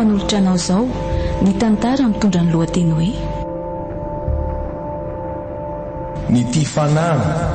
manolotra anao izao ny tantara mitondra ny lohateny hoe ny tia fanahy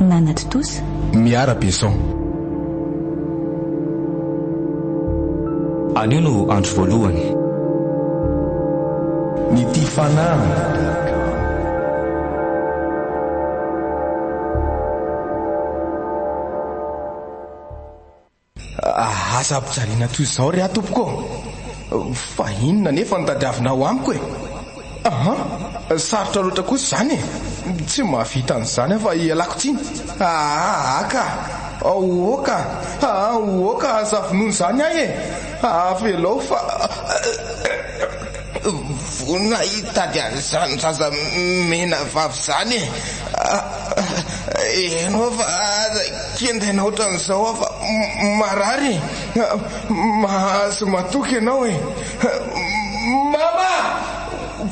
nanatontosa. Miara Besson. Anio no andro voalohany. Ny tia fanahy. Aza ampijaliana toy izao re aho tompoko ô! Fa inona anefa no tadiavinao amiko e? Aha! Sarotra loatra kosa izany e! Tsy mahavita an'izany aho fa ialako tsiny. Aa ka! Oa ka! Aa oa ka! Aza vonoa izany ahy e! Avelao fa. Vonona hitady an'izany zaza mena vavy izany e! Ianao fa aza kintana ohatran'izao aho fa marary e! Mahazo matoky ianao e! Mama!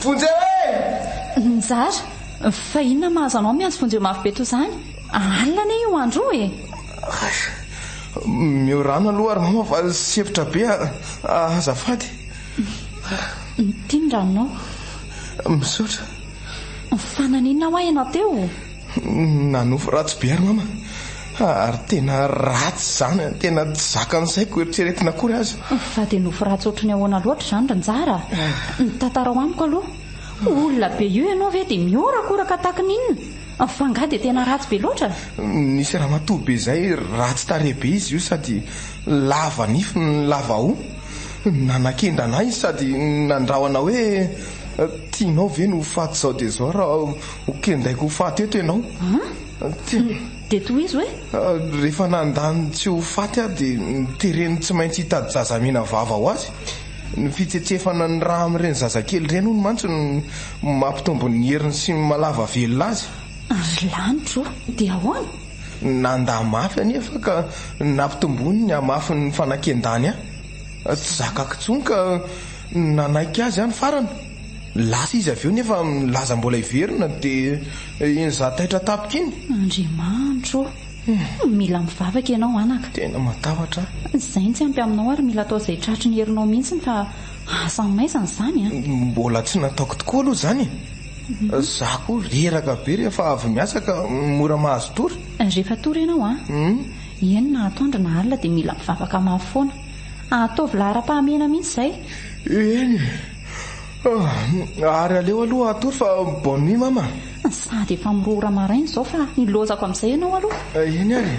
Vonjeo e! Nizara, Fa inona no mahazo anao miantso vonjeo mafy be toa izany? Alina anie io andro io e! Hay! Meo rano aloha ary mama fa sempotra be azafady. Ity ny ranonao. Misaotra. Fa naninona hoa ianao teo? Nanofy ratsy be ary mama. Ary tena ratsy izany, tena tsy zakan'ny saiko eritreretina akory aza. Fa dia nofy ratsy ohatry ny ahoana loatra izany ry Njara? Tantarao amiko aloha. Olona be io ianao ve dia mihorakoraka tahaka ny inona? F'angaha dia tena ratsy be loatra? Nisy ramatoa be izay ratsy tarehy be izy io sady Lava nify ny lava hoho. Nanakendrana ahy izy sady nandrahona hoe, Tianao ve ny ho faty izao dia izao raha ho kendaiko ho faty eto ianao? Dia tohizo hoe? Rehefa nanda ny tsy ho faty aho dia notereny tsy maintsy hitady zazamena vava ho azy. Ny fitsetsefana ny rà amin'ireny zazakely ireny hono mantsy no mampitombo ny heriny sy mahalava velona azy. Ry lanitra ô! Dia ahoana? Nandà mafy anefa ka nampitomboiny ny hamafin'ny fanakian-dàny ahy. Tsy zakako intsony ka nanaiky azy aho ny farany. Lasa izy avy eo nefa nilaza mbola hiverina dia iny za taitra tampoka iny. Andriamanitro ô! Mila mivavaka ianao anaka. Tena matahotra aho. Izay no tsy ampy aminao ary mila atao izay tratry ny herinao mihitsy fa asa maizina izany an! Mbola tsy nataoko tokoa aloha izany e! Za ko reraka be rehefa avy miasa ka mora mahazo tory. Rehefa tory ianao an, eny na atoandro na alina dia mila mivavaka mafy foana. Ataovy laharam-pahamehana mihitsy izay. Eny e. Ary aleo aloha hatory fa bonne nuit mama. Sady efa mirohora maraina izao fa hilozako amin'izay ianao aloha. Eny ary e.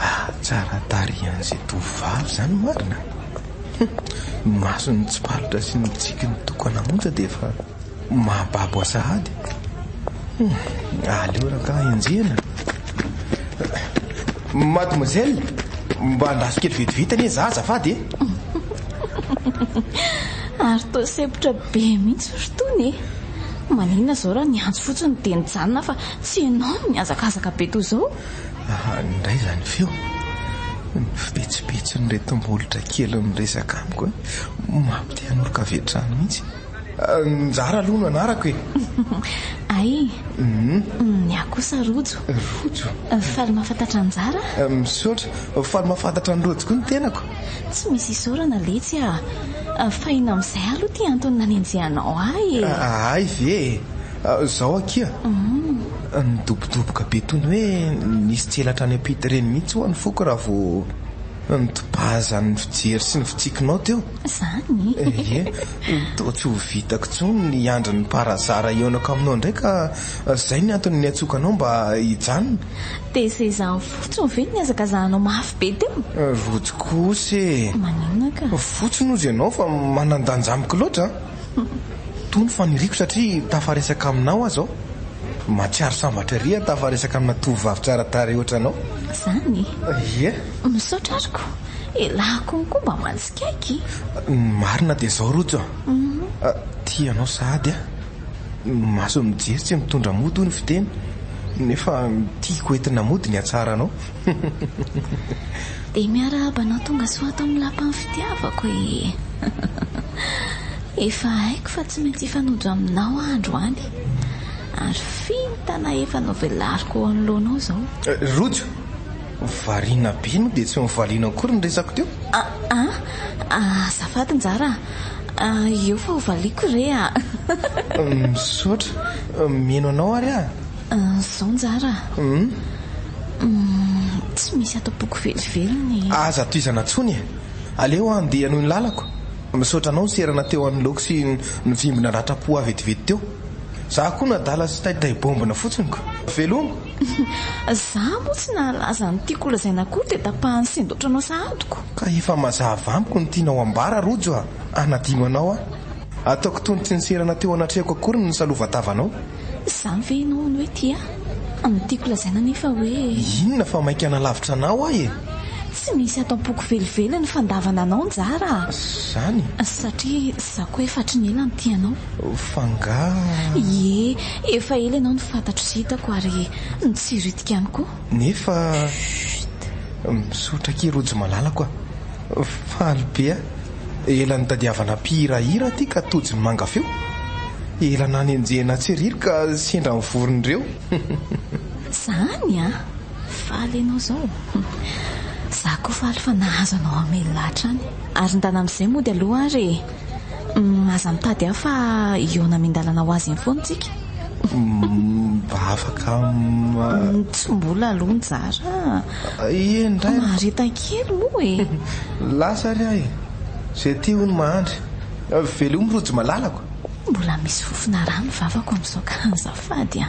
Ah tsara tarehy an'izay tovovavy izany marina a! Hum, ny masony mitsipalotra sy ny mitsiky ny tokana monja dia efa mahababo ahy sahady. Hum, aleo rangaha enjehina e! Mademoiselle, mba andraso kely vetivety anie izaho azafady e! Ary toa sempotra be mihitsy ry Tony e! Maninona izao raha niantso fotsiny dia nijanona fa tsy ianao no nihazakazaka be toa izao? Ahany indray izany feo. Ny fibetsibetsin'ireto molotra kely miresaka amiko hoe maha te hanoroka avy hatrany mihitsy. Njara aloha no anarako e! Ay! Ny ahy kosa Rojo. Rojo? Faly mahafantatra Njara. Misaotra. Faly mahafantatra an'i Rojo koa ny tenako. Tsy misy isaorana letsy a! Fa inona amin'izay aloha ity antony nanenjehanao ahy e? Ahay ve e! Izao akia. Nidobodoboka be toy ny hoe nisy tselatra any am-pita ireny mihitsy ho'a ny foko raha vao nodobazan'ny fijery sy ny fitsikinao teo. Izany? Ie, toa tsy ho vitako intsony ny hiandry ny par hasard hihaonako aminao indray ka izay ny antony niantsoako anao mba hijanona. Dia izay izany fotsiny ve no nihazakazahanao mafy be teo? Rojo kosa e! Maninona ka? Fotsiny hozy ianao fa manan-danja amiko loatra. Toa ny faniriako satria tafaresaka aminao aza aho. Mahatsiaro sambatra ery aho tafaresaka amina tovovavy tsara tarehy ohatranao. Izany e. Ie. Misaotra ary ko. Elah konko mba mansikaiky. Ny marina dia izao Rojo a. Tia anao sahady aho. Ny mason'ny mijery tsy mitondra mody hoy ny fiteny. Nefa ny tiako entina mody ny hatsaranao. Dia miarahaba anao tonga soa ato amin'ny lapan'ny fitiavako ee. Efa haiko fa tsy maintsy hifanodra aminao aho androany, ary vintana efa novelariko eo anoloanao izao. Rojo, variana be no dia tsy novaliana akory ny resako teo. Aa, azafady njara a, eo fa hovaliako re a. Misaotra, mihaino anao ary aho. Zao njara a. Tsy misy ato am-poko velively ny. Aza tohizana tsony e. Aleo handeha hanohy ny lalako. Misaotra anao niserana teo anoloako sy nivimbina ratram-po ahy vetivety teo. Za koa nadala sy taitahy baombina fotsiny ko. Veloma! Za moa tsy nahalaza ny tiako holazaina akory dia tapahan'ny sendotranao sahadiko. Ka efa mazava amiko ny tianao ambara Rojo a. Hanadino anao aho. Ataoko toa ny tsy niserana teo anatrehako akory ny nisalovantavanao. Izany ve ianao no hoe tia ahy? Ny tiako lazaina anefa hoe. Inona fa mainka nalavitra anao aho e! Tsy misy ato am-poko velively ny fandavana anao njara a! Izany? Satria izaho koa efa hatry ny ela no tia anao. F'angaha. Ie, efa ela ianao no fantatro sy hitako ary notsiriotiko ihany koa. Nefa. Chut! Misaotra akia Rojo malalako a! Faly be aho. Ela nitadiavana mpihira hira aty ka tojo ny manga feo. Ela nanenjehina tseriry ka sendra ny voron'ireo. Zany an! Faly ianao zao. Za koa faly fa nahazo anao hamelona hatrany. Ary ndana amizay mody aloha ary e. Aza mitady ahy fa hihaona amin-dalana ho azy eny foana tsika. Mba afaka Tsy mbola aloha nizara. Ie indray. Mahareta kely moa e. Lasa ary aho e. Izay tia hono mahandry. Velomy Rojo malalako. Mbola misy fofona rà ny vavako amin'izao ka azafady a.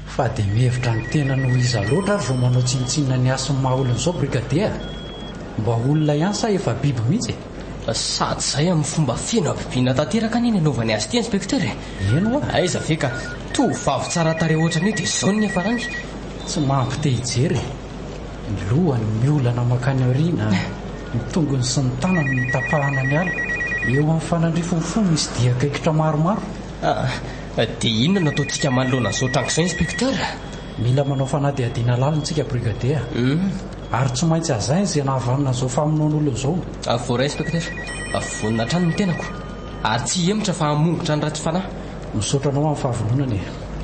Fa dia mihevitra ny tenany ho iza loatra ary vao manao tsinontsinona ny hasin'ny maha olona izao Brigadier a! Mba olona ihany sa efa biby mihitsy e? Sady izay amin'ny fomba feno habibiana tanteraka anie ny anaovany azy ity Inspecteur e! Eny ho'a! Aiza ve ka tovovavy tsara tarehy ohatran'io dia izao ny niafarany? Tsy mampite hijery e! Ny lohany miolana mankany aoriana, ny tongony sy ny tanany notapahana ny ala, eo amin'ny fanandrifon'ny fo misy dian-kaikitra maromaro. Dia inona no ataontsika manoloana an'izao tranga izao, Inspecteur? Mila manao fanadihadiana lalina isika, Brigadier. Hum. Ary tsy maintsy hazaina izay nahavanona an'izao famonoan'olona izao. Avoray, Inspecteur. Vonona hatrany ny tenako. Ary tsy hihemotra fa hamongotra an'i Ratsifanahy. Misaotra anao amin'ny fahavononana e.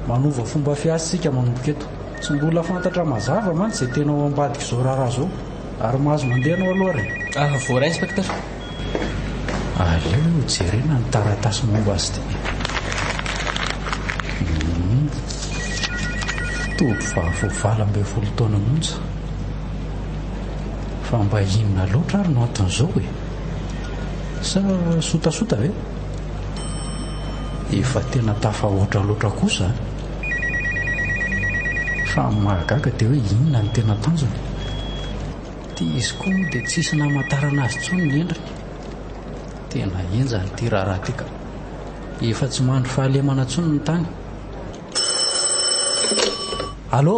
Manova fomba fiasa isika manomboka eto. Tsy mbola fantatra mazava mantsy izay tena ao ambadik'izao raharaha izao. Ary mahazo mandeha anao aloha ary e. Avoray, Inspecteur. Aleo jerena ny taratasy momba azy ity. Humm. Tovovavy valo ambin'ny folo taona monja. Fa mba inona loatra ary no anton'izao e? Sa sotasota ve? Efa tena tafahoatra loatra kosa an! Fa ny mahagaga dia hoe inona no tena tanjony? Ity izy koa moa dia tsisy namantarana azy intsony ny endriny. Tena henjana ity raharaha ity ka. Efa tsy mandry fahalemana intsony ny tany. Allo?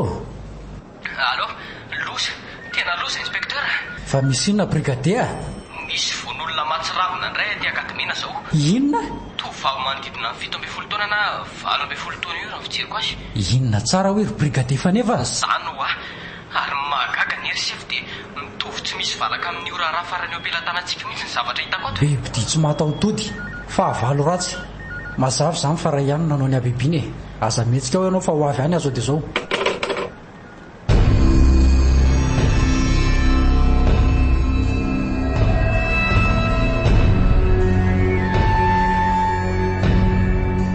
Allo? Loza, tena loza Inspecteur a! Fa misy inona Brigadea? Misy vono-olona mahatsiravina indray aty Akademiana izao. Inona? Tovovavy manodidina ny fito ambin'ny folo taona na valo ambin'ny folo taona eo raha ny fijeriko azy. Inona tsara hoy ry Brigadie Faneva? Izany hoa. Ary ny mahagaga anie ry sefo dia mitovy tsy misy valaka amin'io raharaha farany eo am-pelatanantsika mihitsy ny zavatra hitako ato e! Bibidia tsy mataho-tody. Fahavalo ratsy. Mazava izany fa Ray ihany no nanao ny habibiana e! Aza mihetsika ao ianao fa ho avy any aho zao dia zao.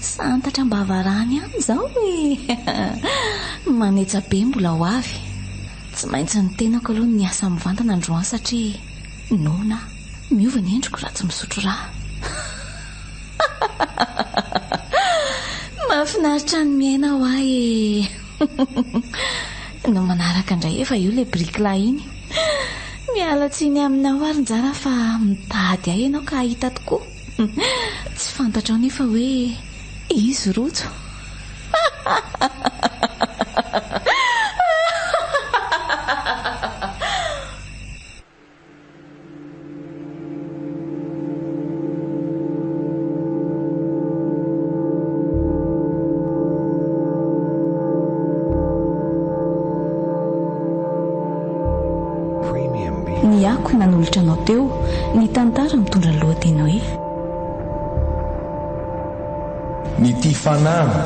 Santatra am-bava rano ihany izao e! Manetsa be mbola ho avy. Tsy maintsy ny tenako aloha no miasa mivantana androany satria noana aho. Miova ny endriko raha tsy misotro rà. Mahafinaritra ny miaina hoa e! No manaraka indray efa eo ilay bricla iny. Miala tsiny aminao ary njara fa mitady ahy ianao ka hahita tokoa. Tsy fantatrao nefa hoe izy rojo. Ny akoho nanolotra anao teo ny tantara mitondra ny lohateny hoe. Ny tia fanahy.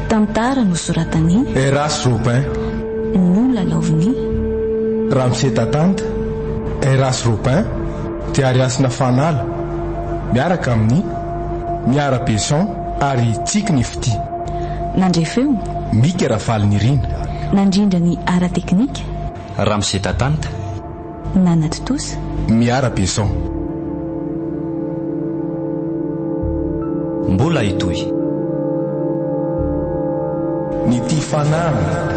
Tantara nosoratan'i. Erras Robin. Nolalaovin'i. Ramose Tatanta, Erras Robin, Diary Hasina Fanala, miaraka amin'i. Miara Besson. Ary tsiky ny fitia. Nandre feo. Mika Rafalinirina. Nandrindra ny ara-teknika. Ramose Tatanta. Nanatontosa. Miara Besson. Mbola hitohy. Ny tia fanahy.